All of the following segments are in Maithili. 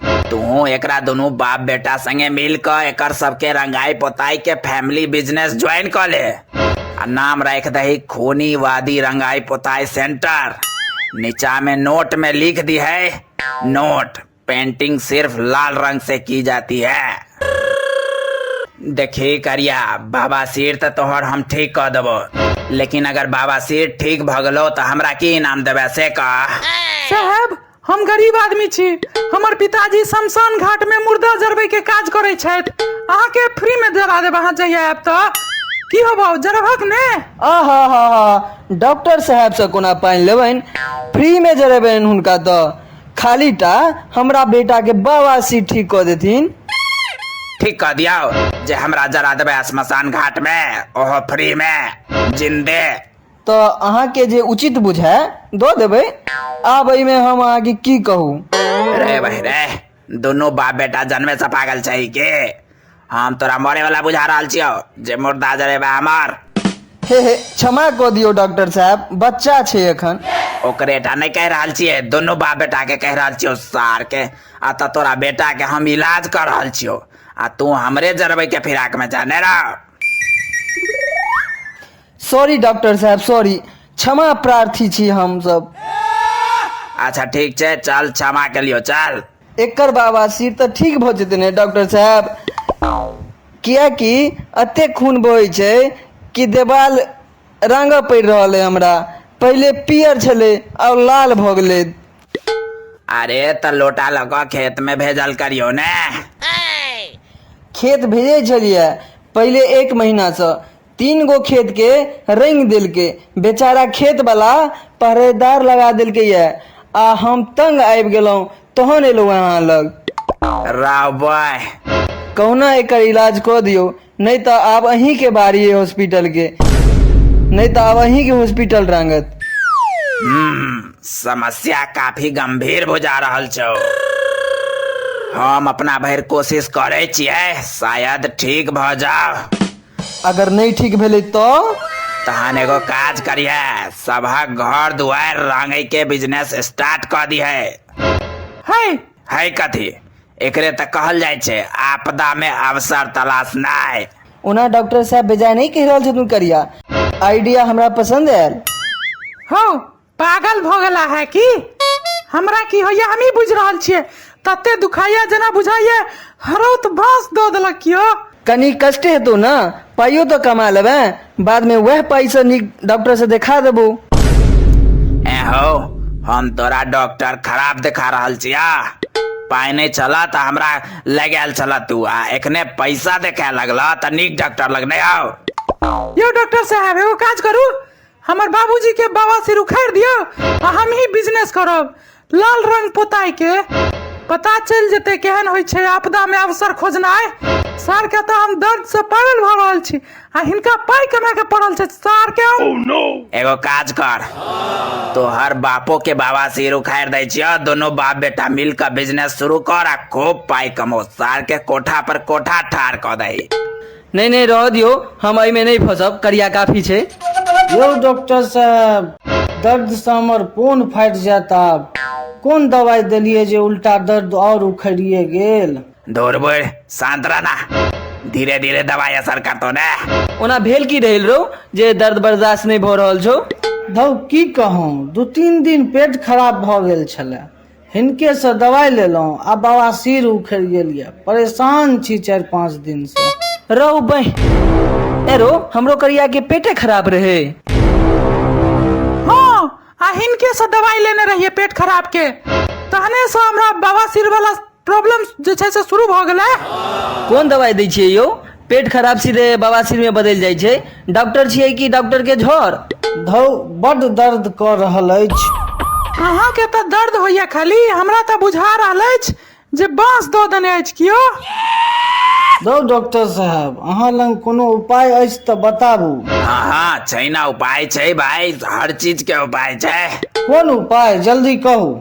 तू एकरा दोनों बाप बेटा संगे मिल क एक सबके रंगाई पोताई के फैमिली बिजनेस ज्वाइन कर ले आ नाम रख दही खोनी वादी रंगाई पोताई सेंटर नीचा में नोट में लिख दी है नोट पेंटिंग सिर्फ लाल रंग से की जाती है देखी करिया बाबा सिर तो तोहर हम ठीक कह देबो लेकिन अगर बाबा सिर ठीक भगलो तो हमरा की इनाम देवे से कह साहब हम गरीब आदमी छी हमर पिताजी शमशान घाट में मुर्दा जरबै के काज करै छथि अहाँ के फ्री में जरा देब अहाँ जहिया आयब तऽ की होबो जरबहक ने आहा हा हा डॉक्टर साहब से कोना पानि लेबनि फ्री में जरेबनि हुनका तऽ खाली टा हमरा बेटा के बवासी ठीक कऽ देथिन ठीक कह दिया जे हमरा जरा देबै शमशान घाट में ओहो फ्री में जिंदे तऽ अहाँके जे उचित बुझाय दऽ देबै आब एहिमे हम अहाँके की कहू रे भाई रे दुनू बाप बेटा जन्मे से पागल छै के हम तोरा मरे वाला बुझा रहल छियो जे मुर्दा जरेबा हमर हे हे क्षमा कऽ दियौ डॉक्टर साहब बच्चा छै एखन ओकरे टा नहि कहि रहल छियै दुनू बाप बेटा के कहि रहल छियो सार के आ तऽ तोरा बेटा के हम इलाज कर रहल छियो आ तू हमरे जरबै के फिराक में जाने रह सॉरी डॉक्टर साहब सॉरी क्षमा प्रार्थी छी हम सब अच्छा ठीक छै चल क्षमा के लियो चल एकर बाबा सिर तऽ ठीक भऽ जेतै ने डॉक्टर साहब किएकि एते खून बहै छै कि देवाल रंगऽ पड़ि रहल है हमरा पहिले पीयर छलै आओर लाल भऽ गेलै अरे तऽ लोटा लऽ कऽ खेत में भेजल करियो ने खेत भेजै छलियै पहिले एक महीनासँ तीन गो खेत के रंग देलके बेचारा खेत वाला पहरेदार लगा देलके ये आ हम तंग आबि गेलहुं तहन एलहुं अहाँ लग रावय कहुना एकर इलाज कऽ दियौ नहि तऽ आब अहीं के बारी है हॉस्पिटल के नहि तऽ आब अहीं के हॉस्पिटल रांगत समस्या काफी गंभीर बुझा रहल छौ हम अपना भरि कोशिश करे छियै शायद ठीक भऽ जाओ अगर नहि ठीक भेलै तऽ तहन एगो काज करिहे सबहक घर दुआरि रंगै के बिजनेस स्टार्ट कऽ दिहे है है कथी एकरे तऽ कहल जाइ छै आपदा में अवसर तलाशनाइ ओना डॉक्टर साहब बेजाय नहि कहि रहल छथुन करिया आइडिया हमरा पसन्द आयल हँ पागल भऽ गेला है कि हमरा की होइए हमही बुझि रहल छियै तते दुखाइए जेना बुझाइए हरौत भास दऽ देलक यौ कनी कष्टे हेतौ ने पाइयो तऽ कमा लेबै बादमे वएह पाइसँ नीक डॉक्टरसँ देखा देबौ ए हो हम तोरा डॉक्टर खराब देखा रहल छिया पाइ नहि छल तऽ हमरा लगायल छल तू आ एखने पैसा देखाय लगल तऽ नीक डॉक्टर लग नहि आउ यौ डॉक्टर साहब एगो काज करू हमर बाबूजी के बाबा सिर उखाड़ दियो आ हम ही बिजनेस करब लाल रंग पोताई के पता चल जेते केहन होइ छै आपदा में अवसर खोजनाय सर के तो हम दर्द से पागल भ रहल छी आ हिनका पाई कमा के पड़ल छै सर के एगो काज कर तोहर बापो के बाबा सिर उखाड़ दै छियो दोनों बाप बेटा मिल के बिजनेस शुरू कर आ खूब पाई कमो सार के कोठा पर कोठा ठार क दही नहि नहि रहऽ दियौ हम एहिमे नहि फँसब करिया काफी छै यौ डॉक्टर साहब दर्दसँ हमर पोन फाटि जायत आब कोन दवाइ देलियै जे उल्टा दर्द आओर उखड़िए गेल दूर बुढ़ शांत रहना धीरे धीरे दवाई असर करतो ने ओना भेल की रहल रौ जे दर्द बर्दाश्त नहि भऽ रहल छौ धौ की कहौं दू तीन दिन पेट खराब भऽ गेल छलए हिनके से दवाई लेलहुँ आ बाबा सिर उखड़ गेल ये परेशान छी चारि पाँच दिन से रहू बह एरो हमरो करिया के पेटे खराब रहे हाँ आ हिनके से दवाई लेने रहिए पेट खराब के तहने से हमरा बवासीर वाला प्रॉब्लम जे छै से शुरू भऽ गेलै कोन दवाई दै छियै यौ पेट खराब सीधे बवासीर में बदलि जाइ छै डॉक्टर छियै कि डॉक्टर के झोर धौ बड्ड दर्द कऽ रहल अछि अहाँके तऽ दर्द होइए खाली हमरा तऽ बुझा रहल अछि जे बाँस दऽ देने अछि कियो धौ डॉक्टर साहब अहाँ लग कोनो उपाय अछि तऽ बताबू हाँ हाँ छै ना उपाय छै भाई हर चीज के उपाय छै कोन उपाय जल्दी कहू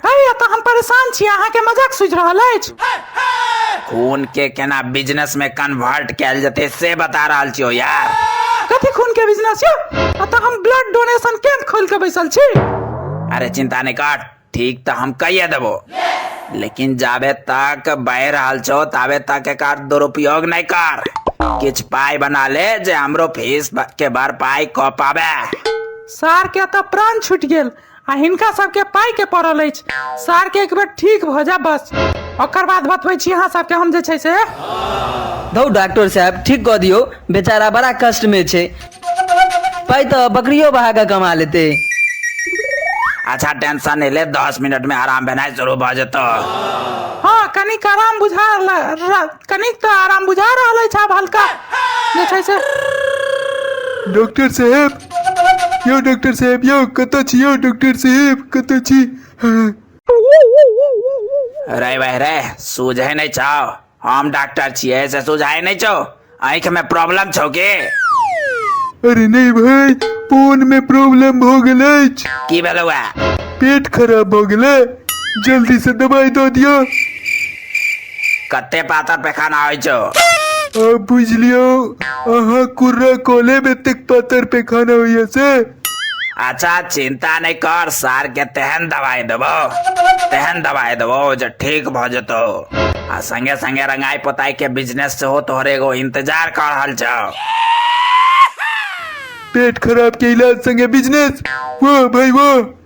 हय एतऽ हम परेशान छी अहाँके मजाक सुझि रहल अछि खून के केना बिजनेस में कन्वर्ट कैल जते से बता रहल छियो यार कथी खून के बिजनेस यौ एतऽ हम ब्लड डोनेशन कैंप खोल के बैसल छी अरे चिंता नहीं कर ठीक तो हम कहिए देबो लेकिन जाबे तक बह रहल छो ताबे तक एकर दुरुपयोग नहीं कर किछ पाई बना ले जे हमरो फीस के भरपाई क पावे सार के एतऽ प्राण छूटि गेल आ हिनका सबके पाइ के पड़ल अछि सार के एक बेर ठीक भऽ जाए बस ओकर बाद बतबै छी अहाँ सबके हम जे छै से धौ डॉक्टर साहब ठीक कऽ दियौ बेचारा बड़ा कष्ट में छै पाइ तऽ बकरियो बहा कऽ कमा लेते अच्छा टेंशन नहीं ले दस मिनट में आराम भेनाइ शुरू भऽ जेतौ हँ कनिक आराम बुझा ल- र- कनिक तऽ आराम बुझा रहल अछि आब हल्का जे छै से डॉक्टर साहब यौ डॉक्टर साहेब यौ कतऽ छी यौ डॉक्टर साहेब कतऽ छी रे भाई रे सूझे नहीं छाओ हम डॉक्टर छिए से सूझाए नहीं छो आँख में प्रॉब्लम छो के अरे नहीं भाई फोन में प्रॉब्लम हो गेल अछि की भेलौ है पेट खराब हो गेलै जल्दी से दवाई दऽ दियौ कते पातर पैखाना होइ छौ अब बुझलियो अहाँ कुर्रा कॉले में तक पातर पैखाना होइए से अच्छा चिंता नहीं कर सार के तेहन दवाई देबो तेहन दवाई देबो जे ठीक भ जेतो आ संगे संगे रंगाई पोताई के बिजनेस से हो तोहर एगो इंतजार कर रहल छौ पेट खराब के इलाज संगे बिजनेस वाह भाई वाह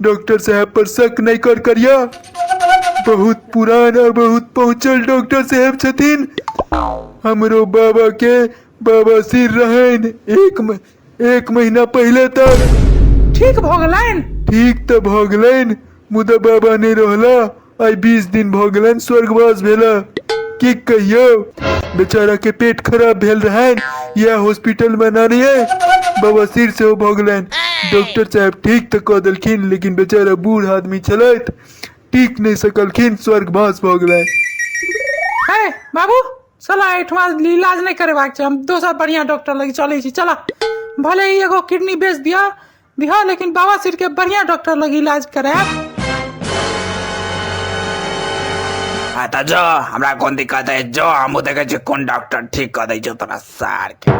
डॉक्टर साहब पर शक नहीं कर करिया बहुत पुरान और बहुत पहुंचल डॉक्टर साहब छथिन हमरो बाबा के बाबा सिर रहन एक म- एक महीना पहले तक ठीक भऽ गेलनि ठीक तऽ भऽ गेलनि मुदा बाबा नहि रहला आइ बीस दिन भऽ गेलनि स्वर्गवास भेला की कहियौ बेचारा के पेट खराब भेल रहनि इएह हॉस्पिटल में नानी है बवासीर सेहो भऽ गेलनि डॉक्टर साहब ठीक तऽ कऽ देलखिन लेकिन बेचारा बूढ़ आदमी छलथि टीक नहि सकलखिन स्वर्गवास भऽ गेलनि है बाबू चला एहिठमा इलाज नहि करेबाक छै हम दोसर बढ़िआँ डॉक्टर लग चलै छी चला भले ही एगो किडनी बेच दिया बिहार लेकिन बाबा सिर के बढ़िया डॉक्टर लग इलाज करायब हाँ तो जो हमरा कोन दिक्कत है जो हम देखे छी कोन डॉक्टर ठीक कर दै छौ तोरा सार के